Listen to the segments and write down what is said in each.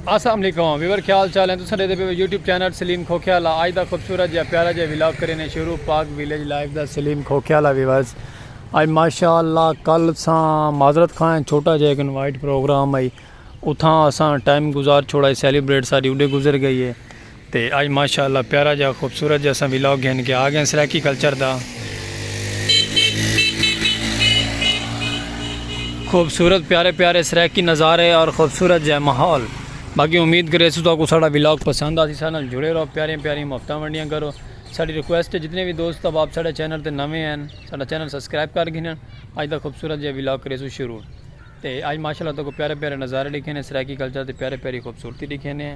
السلام علیکم ویور خیال چال ہیں تو سن دے پہ یوٹیوب چینل سلیم کھوکھیا لا آج دا خوبصورت جا پیارا جا ویلاگ کرینے شروع پاک ویلیج لائف دا سلیم کھوکھیا لا ویورز آج ماشاءاللہ کل ساں معذرت خواہن چھوٹا جا ایک انوائٹ پروگرام آئی اتھاں اساں ٹائم گزار چھوڑا ہے سیلیبریٹ ساری اڈے گزر گئی ہے تے آج ماشاء اللہ پیارا جا خوبصورت جا اساں ولاگ گھن کے آ گئے ہیں سرائیکی کلچر دا خوبصورت پیارے پیارے سرائیکی نظارے اور خوبصورت جا ماحول باقی امید کرے سو تاکو ساڑا ولاگ پسند آسی ساڑا نال جڑے رہو پیارے پیارے محبتاں ونڈیاں کرو ساڑی ریکویسٹ ہے جتنے بھی دوست اب آپ ساڑے چینل تے نویں ہیں ساڑا چینل سبسکرائب کر گھنن آج دا خوبصورت جا ولاگ کرے سو شروع تے آج ماشاء اللہ تاکو پیارے پیارے نظارے لکھے ہیں سرائیکی کلچر تے پیارے پیاری خوبصورتی لکھے ہیں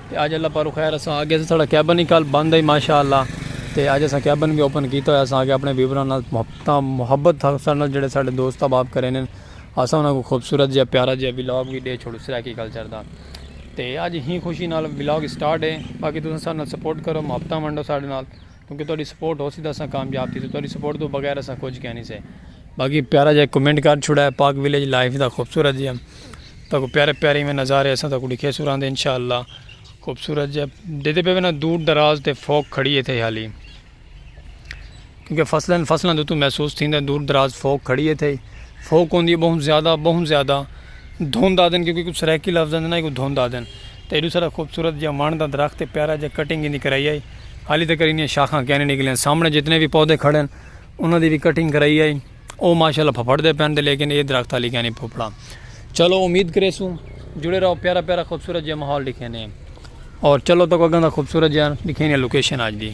تے اج اللہ پاروں خیر اساں آگئے اساں ساڑا کیبن ہی کل بند ہئی ماشاءاللہ تے اج اساں کیبن وی اوپن کیتا ہویا اساں آگئے اپنے ویوراں نال محبتاں محبت تھا ساڑے نال جیڑھے ساڑے دوست احباب کرین ہن اساں انہاں کوں خوبصورت جیہا پیارا جیہا ولاگ وی ڈے چھوڑوں سرائیکی کلچر دا تے اج ہی خوشی نال ولاگ سٹارٹ ہے باقی تساں ساڑے نال سپورٹ کرو محبتاں ونڈو ساڑے نال۔ کیونکہ تہاڈی سپورٹ ہوسی تاں اساں کامیاب تھیسوں تہاڈی سپورٹ توں بغیر اساں کجھ کینی سے۔ باقی پیارا جیہا کمنٹ کر چھوڑا ہے پاک ولیج لائف دا خوبصورت جیہا تہاکوں پیارے پیارے ایویں نظارے اساں تہاکوں ڈکھیسوں راہندے انشاءاللہ خوبصورت جیہا ڈیہدے پئے وینا دور دراز تے فوک کھڑی ایتھے ہی حالی کیونکہ فصلاں فصلاں دے اتوں محسوس تھیندا ہے دور دراز فوک کھڑی ایتھے ہی فوک ہوندی ہے بہت زیادہ بہت زیادہ دھند آدھن کیونکہ کچھ سرائیکی لفظ آندے نا ایکوں دھند آدھن تے ایڈو سارا خوبصورت جیہا وݨ دا درخت ہے پیارا جیہا کٹنگ ایندی کرائی ہے۔ حالی تکر انیاں شاخاں کینی نکلیاں سامنے جتنے بھی پودے کھڑے ہیں انہاں دی بھی کٹنگ کرائی آئی او ماشاءاللہ پھپڑ دے پین دے لیکن اے درخت حالی کینی پھپڑا چلو امید کرے سوں جڑے رہو پیارا پیارا خوبصورت جے ماحول دکھے نے اور چلو تک اگاں دا خوبصورت جے دکھے نے لوکیشن آج دی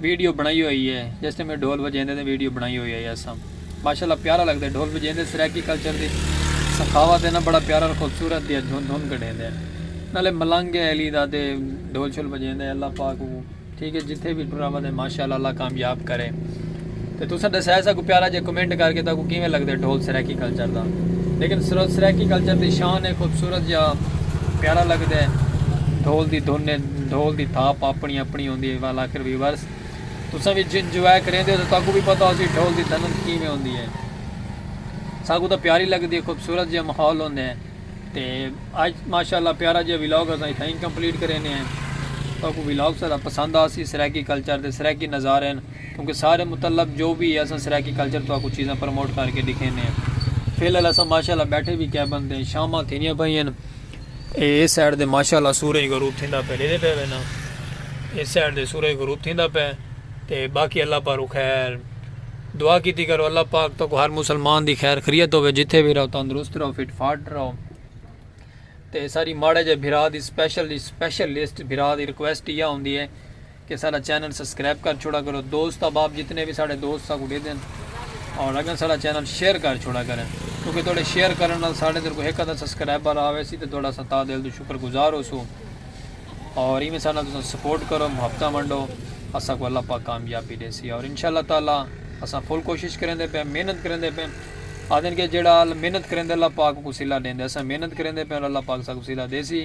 ویڈیو بنڑائی ہوئی ہے جس ٹائم ڈھول وجیندے تے ویڈیو بنڑائی ہوئی ہے اساں ماشاءاللہ پیارا لگدے ڈھول وجیندے سرائیکی کلچر دی سخاوت ہے نا بڑا پیارا خوبصورت دیا دھن دھن کڈیندے نالے ملنگ ہے علی دا تے ڈھول شول وجیندے اللہ پاک ٹھیک ہے جتھے بھی ٹرا ودے ماشاءاللہ اللہ کامیاب کرے تے تساں ڈسیا ہے ساکوں پیارا جے کمنٹ کر کے تاکوں کیویں لگدے ڈھول سرائیکی کلچر دا لیکن سرائیکی کلچر دی شان ہے خوبصورت جا پیارا لگدے ڈھول دی دھن ڈھول دی تھاپ اپنی اپنی ہوندی ہے والاخر ویورز تساں وی جن جو ہے کریندے ہو تاکوں بھی پتہ ہو سی ڈھول دی دھن کیویں ہوندی ہے ساکوں دا پیاری لگدی ہے خوبصورت جا ماحول ہوندے ہیں تے آج ماشاءاللہ پیارا جا ویلاگ اساں اتھائیں کمپلیٹ کرینے ہیں تاکوں ویلاگ سارا پسند آسی سرائیکی کلچر دے سرائیکی نظارے ہیں کیونکہ سارے متعلق جو وی ہے اساں سرائیکی کلچر تہاکوں چیزاں پروموٹ کر کے ڈکھینے ہیں۔ فی الحال اساں ماشاءاللہ بیٹھے وی کیبن تے ہیں شاماں تھیندیاں پئیاں ہن اے اے سائیڈ تے ماشاءاللہ سورج غروب تھیندا پئے ڈیدھے پئے وینا اے سائیڈ تے سورج غروب تھیندا پئے تے باقی اللہ پاروں خیر دعا کیتی کرو اللہ پاک تہاکوں ہر مسلمان دی خیر خریت ہووے جتھے وی رہو تندرست رہو فٹ فاٹ رہو تے ساری ماڑے جے بھرا دی سپیشل دی سپیشل لسٹ بھرا دی ریکویسٹ یا ہوندی ہے کہ ساڈا چینل سسکرائب کر چھوڑا کرو دوست احباب جتنے وی ساڈے دوست ساکوں ڈیدن اور اگاں ساڈا چینل شیئر کر چھوڑا کرن کیونکہ تہاڈے شیئر کرن نال ساڈے اندر کوئی ہک ادھا سسکرائبر آویسی تے تہاڈا اساں تہہ دل توں شکر گزار ہوسوں اور ایویں ساڈے نال تساں سپورٹ کرو محبتاں ونڈو اساکوں اللہ پاک کامیابی ڈیسی اور انشاءاللہ تعالی اساں فل کوشش کریندے پئے محنت کریندے پئے آہدن کہ جیہڑا محنت کریندے اللہ پاک اوکوں صلہ ڈیندے اساں محنت کریندے پئے اور اللہ پاک اساکوں صلہ دیسی